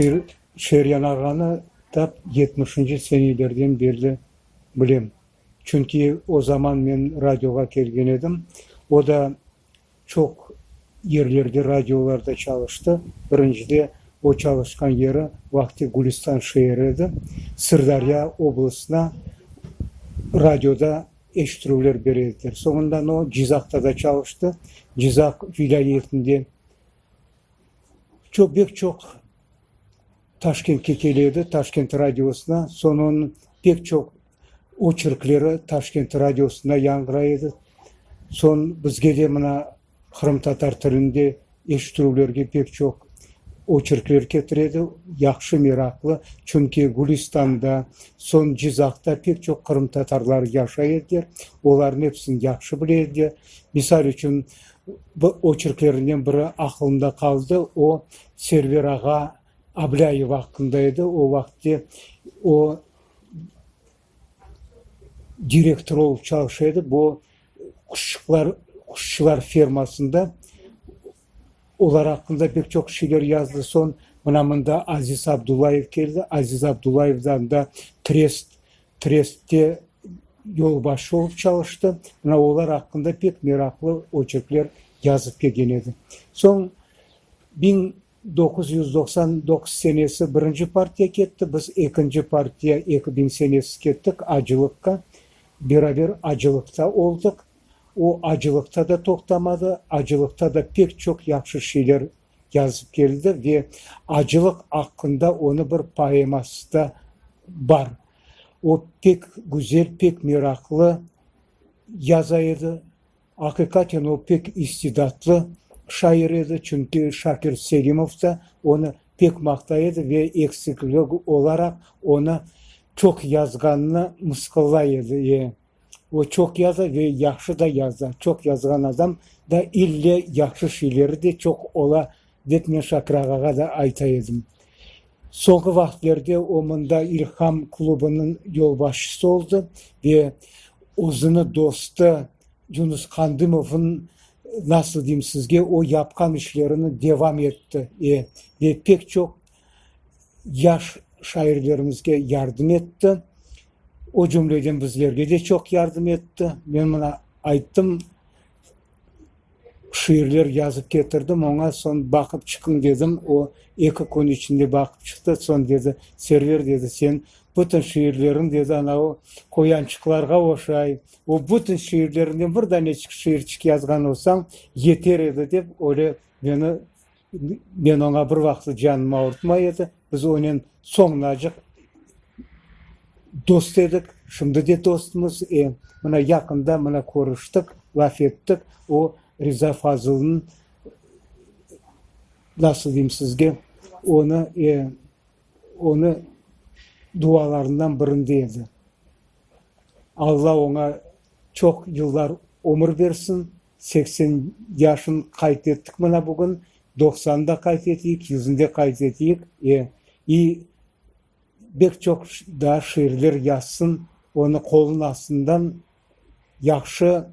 Bir Şeryan ağanı tap yetmişinci senelerden berli bilem. Çünki o zaman men radioğa kelgen edim. O da çoq yerlerde, radiolarda çalıştı. Birincide o çalışqan yeri vaqti Gülüstan şeeri edi. Sırdârya oblastına radioda eşittirüvler bere ediler. Soñundan o Cizaqta da çalıştı. Cizaq vilâyetinde. çoq, bek çoq Taşkentke kele edi, Taşkent radiosına. Soñ onıñ pek çoq oçerkleri Taşkent radiosında yañğıray edi. Soñ bizge de mına qırımtatar tilinde eşittirüvlerge pek çoq oçerkler ketire edi, yahşı, meraqlı. Çünki Gülüstanda, soñ Cizaqta pek çoq qırımtatarlar yaşay ediler, olarnıñ episini yahşı bile ediler. Misal içün, Bu oçerklerinden biri aqılımda qaldı, o, Server ağa Ablâyev aqqında edi, o vaqıtte o, direktor olıp çalışa edi, bu quşçuqlar, quşçular fermasında, olar aqqında pek çoq şeyler yazdı, soñ mına mında Aziz Abdullayev keldi, Aziz Abdullayevdan da trest Trestte yolbaşı olıp çalıştı. Mına olar aqqında pek meraqlı oçerkler yazıp kelgen edi. Soñ biñ doquz yüz doqsan doquz senesi birinci partiya ketti, biz ekinci partiya eki biñ senesi kettik acılıqqa. Beraber acılıqta oldıq. O acılıqta da toqtamadı, acılıqta da pek çoq yahşı şeyler yazıp keldi ve acılıq aqqında onı bir poeması da bar. O pek güzel, pek meraqlı yaza edi. Aqiqaten o pek istidatlı şair edi, çünki Şakir Selimov da onı pek maqtay edi ve eksiklik olaraq onı çoq yazğanını mısqıllay edi. O çoq yaza ve yahşı da yaza. Çoq yazğan adam da ille yahşı şiileri de çoq ola, dep men Şakir ağağa da ayta edim. Soñki vaqıtlerde o mında İlham klubınıñ yolbaşçısı oldı ve özüni dostu Yunus Qandımovnıñ, nasıl deyim sizge, o yapqan işlerini devam etti. E, ve pek çoq yaş şairlerimizge yardım etti. O cümleden bizlerge de çoq yardım etti. Men mına ayttım, şiirler yazıp ketirdim oña, soñ baqıp çıqıñ dedim, o eki kün içinde baqıp çıqtı, soñ dedi, Server, dedi, sen bütün şiirleriñ, dedi, anav qoyançıqlarğa oşay, o bütün şiirleriñden bir daneçik şiirçik yazğan olsañ, yeter edi, dep, öyle meni. Men oña bir vaqıtı canım ağırtmay edi, biz onen soñunacıq dost edik, şimdi de dostmız, mına yaqında mına körüştik, laf ettik, o Riza Fazılnıñ, nasıl deyim sizge, onı, onı dualarından birinde edi. Alla oña çoq yıllar ömür bersin, Seksen yaşın qayd ettik mına bugün, doqsanı da qayd eteyik, yüzüni de qayd eteyik. E, i bek çoq daa şiirler yazsın, onı qolunıñ astından yahşı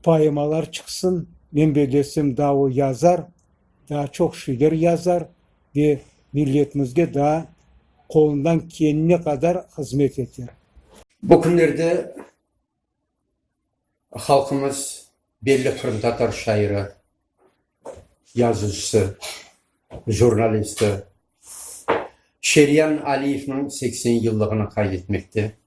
poemalar çıqsın. Men bellesem, daa o yazar, daa çoq şiirler yazar ve milletimizge daa qolundan kelene qadar hızmet eter. Bu künlerde Halqımız belli qırımtatar şairi, yazıcısı, jurnalisti Şerian Aliyevniñ seksen yıllığını qayd etmekte.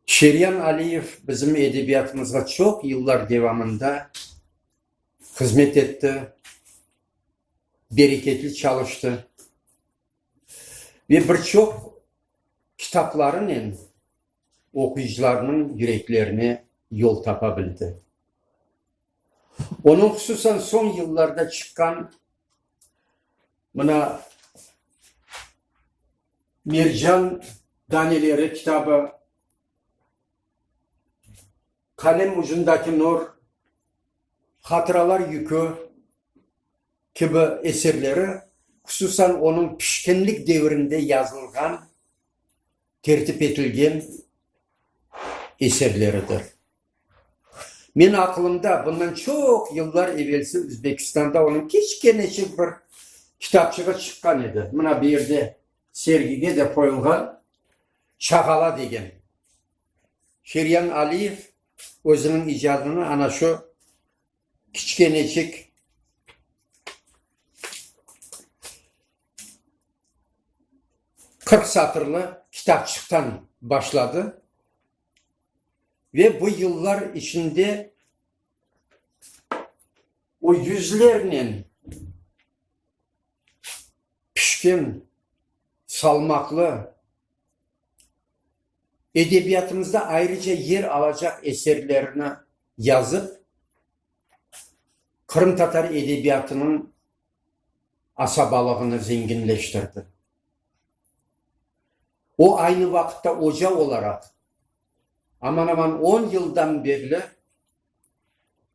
Şerian Aliyev bizim edebiyatımızğa çoq yıllar devamında hızmet etti, bereketli çalıştı ve bir çoq kitaplarınen, oquyıcılarnıñ yüreklerine yol tapa bildi. Onıñ hususan soñ yıllarda çıqqan mına Mercan daneleri kitabı, Qalem ucundaki nur, Hatıralar yükü kibi eserleri, hususan onıñ pişkinlik devirinde yazılğan tertip etilgen eserleridir. Menim aqılımda bundan çoq yıllar evelsi Özbekistanda onıñ kiçkeneçik bir kitapçığı çıqqan edi. Mına bu yerde sergige de qoyulğan Çağala degen. Şiryan Aliyev özüniñ icadını ana şu kiçkeneçik qırq satırlı kitapçıqtan başladı ve bu yıllar içinde o yüzlernen pişkin, salmaqlı, edebiyatımızda ayrıca yer alacaq eserlerini yazıp, qırımtatar edebiyatınıñ asabalığını zenginleştirdi. O, aynı vaqıtta oca olaraq, aman-aman on yıldan berli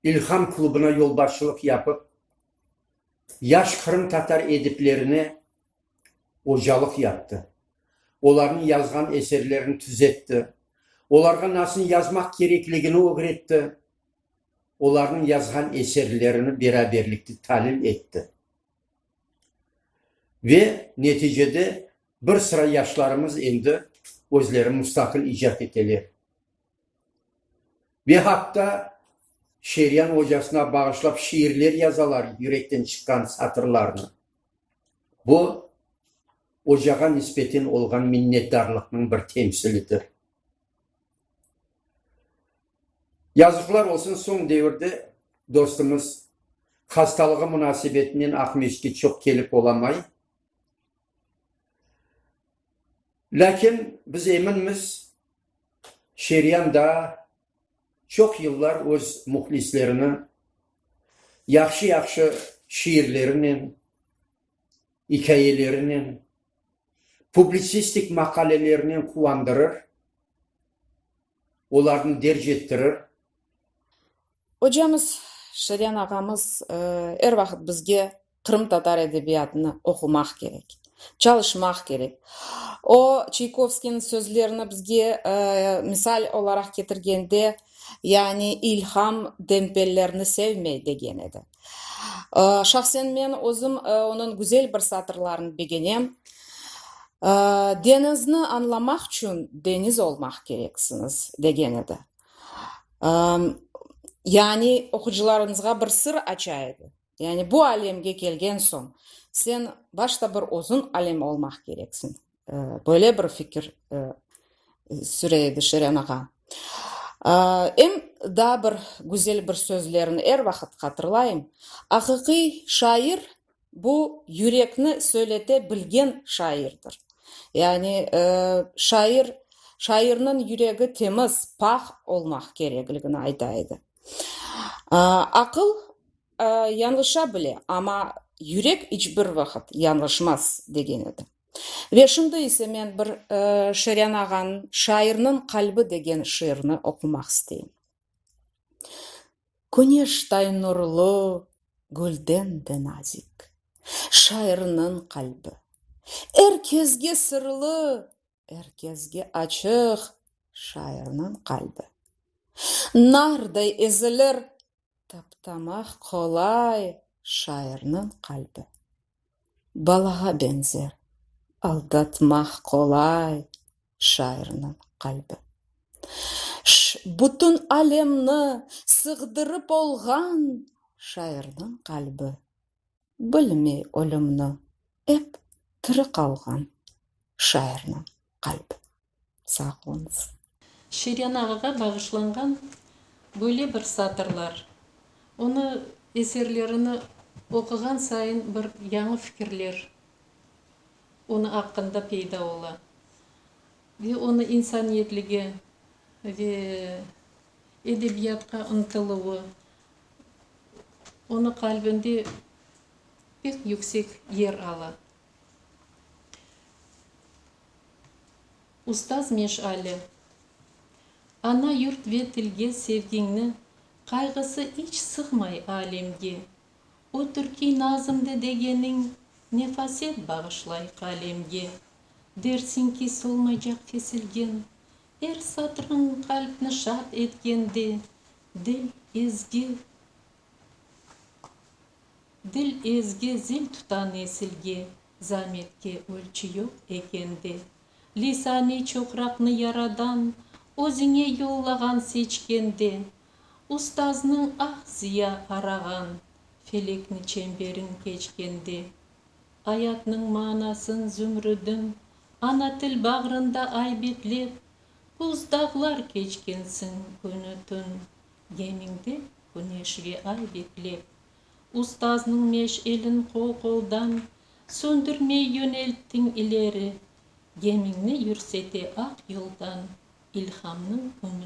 İlham klubına yolbaşçılıq yapıp, yaş qırımtatar ediplerine ocalıq yaptı, olarnıñ yazğan eserlerini tüzetti, olarğa nasıl yazmaq kerekligini ögretti, olarnıñ yazğan eserlerini beraberlikte talil etti. Ve neticede bir sıra yaşlarımız endi özleri mustaqil icat eteler. Ve hatta Şeryan ocasına bağışlap şiirler yazalar yürekten çıqqan satırlarnı. Bu, ocağa nisbeten olğan minnetdarlıqnıñ bir temsilidir. Yazıqlar olsun, soñ devirde dostumız hastalığı munasebetinen Aqmescitke çoq kelip olamay. Lâkin biz eminmiz, Şeryan daa çoq yıllar öz mühlislerini yahşı-yahşı şiirlerinen, ikâyelerinen, publitsistik maqalelerinen quvandırır, olarnı derc ettirir. Ocamız, Şeryan ağamız er vaqıt bizge qırımtatar edebiyatını oqumaq kerek, çalışmaq kerek. O, Çaykovskiyniñ sözlerini bizge misal olaraq ketirgende, yani ilham dempellerini sevmey, degen edi. Şahsen men özüm onıñ güzel bir satırlarını begenem, Deñizni añlamaq içün deñiz olmaq kereksiñiz, degen edi. Yani, oqucılarınızğa bir sır aça edi. Yani, bu alemge kelgen soñ, sen başta bir özün alem olmaq kereksiñ. Böyle bir fikir süre edi Şeren ağa. Em daa bir güzel bir sözlerini er vaqıt hatırlayım, Aqiqiy şair, Bu yürekni söylete bilgen şairdir. Yani, şair, şairniñ yüregi temiz, pah olmaq kerekligini ayta edi. Aqıl yañlışa bile, amma yürek iç bir vaqıt yañlışmaz, degen edi. Ve şimdi ise men bir Şeryan ağanıñ Şairniñ qalbi degen şiirini oqumaq isteyim. Küneştay nurlu, gülden de nazik. Şairniñ qalbi. Er kezge sırlı, er kezge açıq şairniñ qalbi. Narday ezilir, taptamaq qolay şairniñ qalbi. balağa beñzer, aldatmaq qolay şairniñ qalbi. Ş, bütün alemni sığdırıp olğan şairniñ qalbi, bilmey ölümni, ep tiri qalğan şairniñ qalbi. Sağ oluñız. Şiryan ağağa bağışlanğan böyle bir satırlar, onı eserlerini oquğan sayın bir yañı fikirler onı aqqında peyda ola ve onı insaniyetlige ve edebiyatqa ıntıluvı onı qalbinde pek yüksek yer ala. Ustaz meşale. Ana yurt ve tilge sevgiñni Qayğısı iç sığmay alemge. O türkiy nazımdı degeniñ Nefaset bağışlay qalemge. Dersiñ ki, solmaycaq kesilgen, Er satrıñ qalpni şad etkende. Dil, ezgi, Dil ezge zil tuta nesilge, Zametke ölçü yoq eken de. Lisane çoqraqnı yaradan, Özüñe yollağan seçkende. Ustaznıñ ah ziya arağan, Felekni çemberin keçkende. Ayatnıñ manasın zümrüdin, Ana til bağrında aybetlep, Buz dağlar keçkensiñ künü-tün. Gemingde küneş ve ay beklep. Ustaznıñ meş'elin qol-qoldan. Söndürmey yönelttiñ ileri. Gemiñni yürsete aq yoldan. İlhamnıñ ümütini.